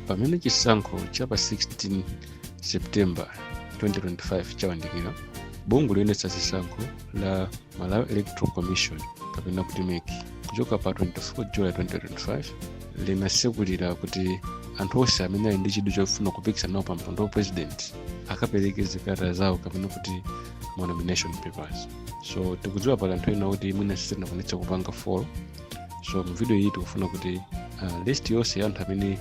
pamene chisankho cha pa 16 september 2025 chawandikira bungwe loyendetsa zisankho la malawi electoral commission kapena kuti mec kuchoka pa 24 july 2025 linasekulira kuti anthu onse amene ali ndi chidwi chofuna kupikisana nawo pa mpando wa president akapereke zikalata zawo kapena kuti ma nomination papers so tikudziwa pali anthu ena kuti mwina sitinakwanitse kupanga follow so mu video iyi tikufuna kuti uh, list yonse ya anthu amene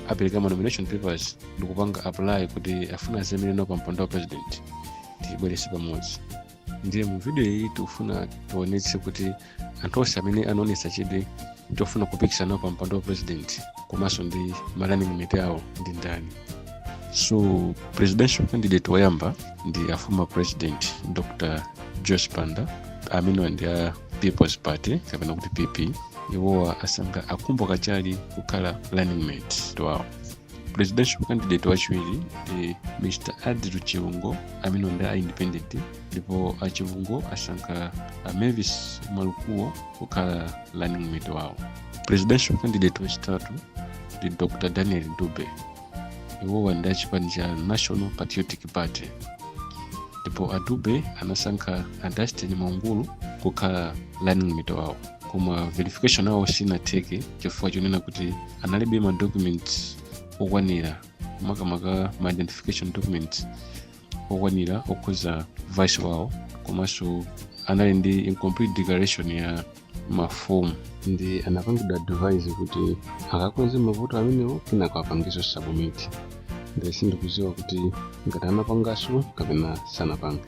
apereka ma nomination papers ndikupanga apply kuti afuna azaimire nawo pa mpando wa president tiyibwerese pamodzi ndiye mu video iyi tikufuna tionetse kuti anthu onse amene anaonesa chidwi chofuna kupikisana nawo pa mpando wa president komanso ndi ma running mate awo ndi ndani so presidential candidate woyamba ndi a former president dr joyce banda amenewa ndi a peoples party kapena kuti pp iwowa asankha a khumbo kachali kukhala running mate wawo presidential candidate wachiwiri ndi mr adil chilungo amene ndi a independent ndipo a chilungo asankha a mervis mwalukuo kukhala running mate wawo presidential candidate wachitatu ndi dr daniel dube iwowa ndi achipani cha national patriotic party ndipo a dube anasankha a dunstan mwaungulu kukhala running mate wawo koma verification awo sinatheke chifukwa chonena kuti analibe ma documents okwanira makamaka ma identification documents okwanira okhuza vice wawo komanso anali ndi incomplete declaration ya mafomu ndi anapangidwa advise kuti akakonze mavuto amenewo kenako apangeso submit ndi sindikuziwa kuti ngati anapangaso kapena sanapange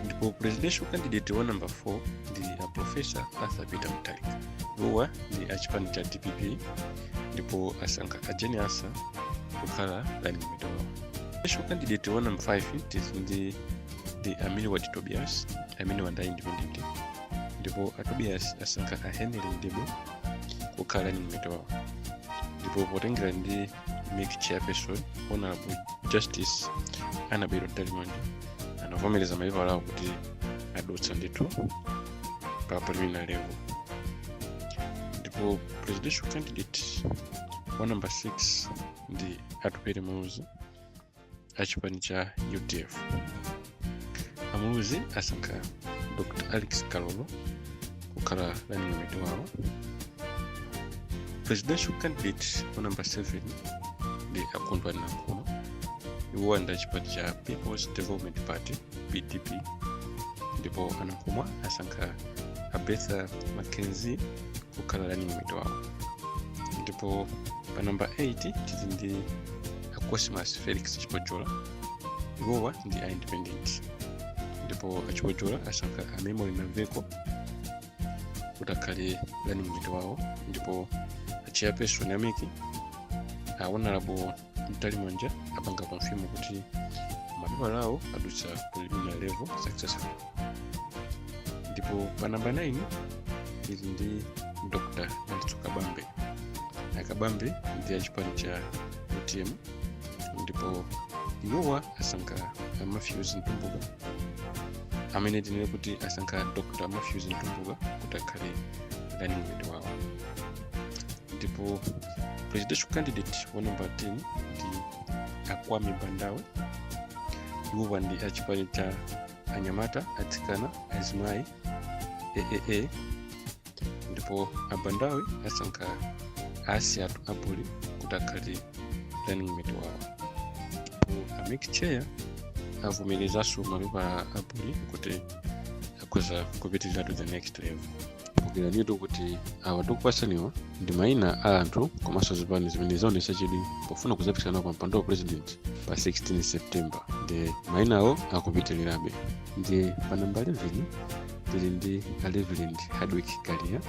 ndipo presidential candidate wa number 4 ndi a professor arthur peter mutharika iwowa ndi achipani cha dpp ndipo asankha a jane ansah kukhala running mate wawo presidential candidate wa number 5 it is ndi ndi a milward tobias amenewa ndi a independent ndipo a tobias asankha a henry mdebwe kukhala running mate wawo ndipo potengera ndi mec chairperson honorable justice annabel mtalimanja anavomereza mapepala awo kuti adutsa ndithu pa preliminary level ndipo presidential candidate wa number 6 ndi atupele muluzi a chipani cha udf amuluzi asankha dr rex kalolo kukhala running mate wawo presidential candidate wa number 7 ndi a kondwani nankhumwa iwowa ndi a chipani cha peoples development party pdp ndipo anankhumwa asankha a bertha mackenzie kukhala running mate wawo ndipo pa namba 8 tili ndi a cosmas felix chipojola iwowa ndi a independent ndipo achipojola asankha a memory naveko kuti akhale running mate wawo ndipo a chairperson a mec a honorable mtalimanja apanga confirm kuti mapepala awo adutsa preliminary level successful ndipo pa namba 9 ili ndi dr dalitso kabambe akabambe ndi achipani cha utm ndipo iwowa asankha matthews mtumbuka amene tinene kuti asankha dr matthews mtumbuka kuti akhale running mate wawo ndipo presidential candidate wa namba 10 ndi akwame bandawe iwowa ndi achipani cha anyamata atsikana azimayi aaa ndipo abandawe asankha asiyatu abuli kuti akhale running mate wawo ndipo a mec chair avomerezanso mapepala abuli kuti akhoza kupitirira to the next level kumbukiranitu kuti awa tikupatsaniwa ndi maina a anthu komanso zipani zimene zaonetsa chidwi pofuna kudzapikisana pa mpando wa president pa 16 september ndiye mainawo akupitirirabe ndiye pa namba 11 tili ndi a reverend hardwick kaliya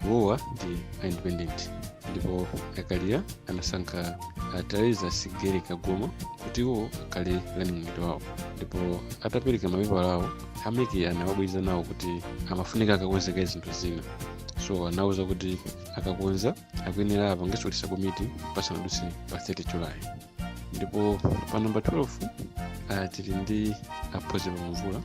iwowa ndi a independent ndipo akaliya anasankha a teresa sigeri kagoma kuti iwo akhale running mate wawo ndipo atapereka mapepala awo a mec anawabweza nawo kuti amafunika akakonze kaye zinthu zina so anawuza kuti akakonza akuyenera apangenso resubmit pasanadutse pa 30 july ndipo pa namba 12 uh, tili ndi a phunziro mvula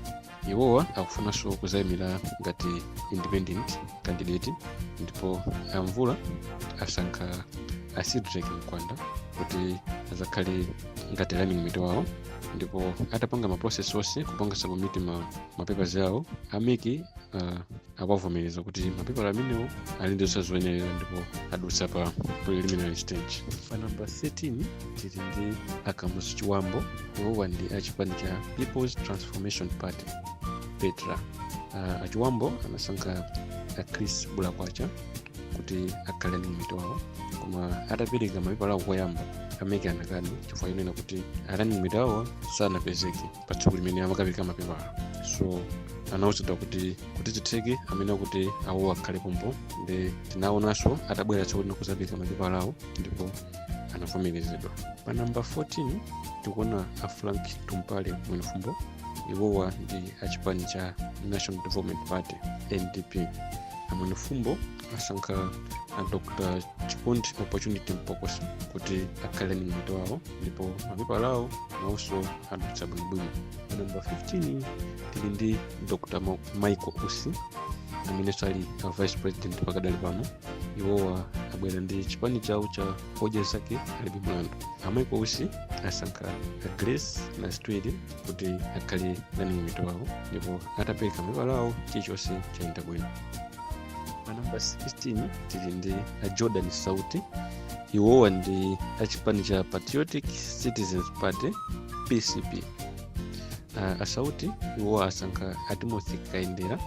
iwowa akufunanso kuzayimira ngati independent candidate ndipo amvula asankha a cedrick mkwanda kuti azakhale ngati running mate wawo ndipo atapanga ma process onse kupanga submit ma, ma papers awo a mec uh, awavomereza kuti mapepala amenewo ali ndi zonse zoyenerera ndipo adutsa pa preliminary stage pa namba 13 tili ndi akamuzu chibambo iwowa ndi achipani cha peoples transformation party petra uh, achibambo anasankha a chris bulakwacha kuti akhale running mate wawo koma atapereka mapepala awo koyamba a mec anakana chifukwa chonena kuti a running mate wawo sanapezeke pa tsiku limene amakapereka mapepala so anawuzidwa kuti kuti zitheke amayenera kuti awo akhale pompo ndi tinaonanso atabwera tsiku lina kuzapereka mapepala awo ndipo anavomerezedwa pa namba 14 tikuona a frank tumpale mwenifumbo iwowa ndi achipani cha national development party ndp a mwenefumbo asankha a dr chikondi opportunity mpokoso kuti akhale running mate wawo ndipo mapepala awo nawonso adutsa bwinobwino pa namba 15 tili ndi dr Ma- michael usi amenenso ali a vice president pakadali pano iwowa abwera ndi chipani chawo cha odya zake alibe mlandu a michael usi asankha a grace nazitwere kuti akhale running mate wawo ndipo atapereka mapepala awo chilichonse chayenda bwino pa namba 16 tili ndi a jordan sauti iwowa ndi achipani cha patriotic citizens party pcp uh, asauti iwowa asankha a timothy kaendera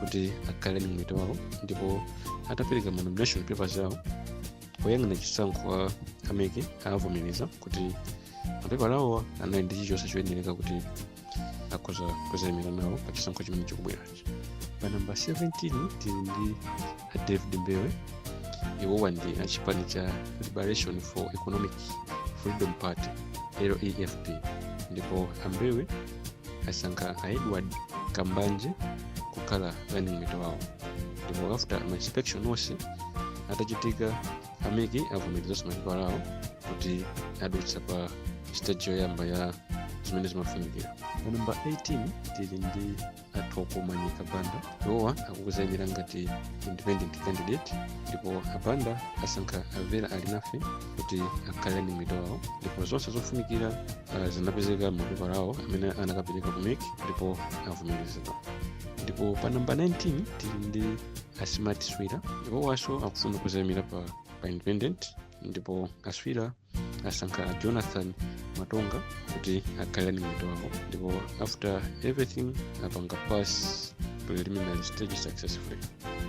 kuti akhale running mate wawo ndipo atapereka ma nomination papers awo oyang'ana chisankho a mec avomereza kuti mapepala awo anali ndi chilichonse choyenereka kuti akhoza kuzaimira nawo pa chisankho chimene chikubwerachi pa namba 17 tili ndi a david mbewe iwowa ndi achipani cha liberation for economic freedom party lefp ndipo ambewe asankha a edward kambanje kukhala running mate wawo ndipo after ma inspection onse atachitika a mec avomerezanso mapepala awo kuti adutsa pa stage yoyamba ya zimene zimafunikira pa namba 18 tili ndi a thoko manyika banda iwowa akukuzayimira ngati independent candidate ndipo a banda asankha a vera alinafe kuti akhale running mate wawo ndipo zonse zofunikira uh, zinapezeka m'mapepala awo amene anakapereka ku mec ndipo avomerezedwa ndipo pa namba 19 tili ndi a smart swira iwowanso akufuna kuzayimira pa, pa independent ndipo a swira asankha jonathan matonga kuti akhale running mate wawo ndipo after everything apanga pass preliminary stage successfully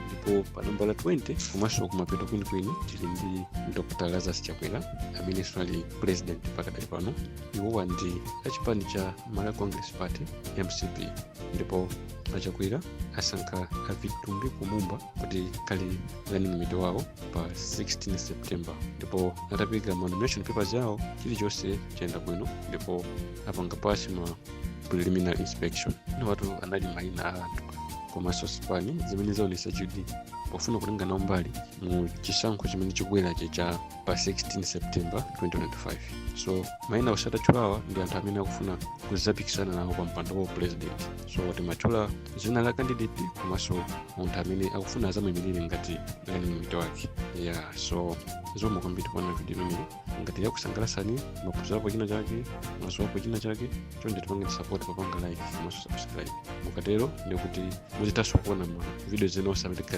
ndipo pa nambala 20 komanso kumapeto kwenikweni tili ndi dr lazarus chakwera amenenso ali president pakadali pano iwowa ndi achipani cha malawi congress party mcp ndipo a chakwera asankha a vitumbiko mumba kuti akhale running mate wawo pa 16 september ndipo atapereka ma nomination papers yawo chilichonse chayenda bwino ndipo apanga pass ma preliminary inspection awatu anali maina a anthu komanso zipani zimene zaonesa chidwi pofuna kutenga nawo mbali mu chisankho chimene chikubwerachi cha pa 16 september 2025 so maina ose tatchulawa ndi anthu amene akufuna kudzapikisana nawo pa mpando wa president so timatchula dzina la candidate komanso munthu amene akufuna azamuimirire ngati running mate wake ya so zikomo kwambiri kuona video imeneyi ngati yakusangalasani mwaphunzirapo china chake mwaziwapo china chake chonde tipangeni support papanga like komanso subscribe mukatero ndikuti muzitanso kuona ma video ena osangalatsa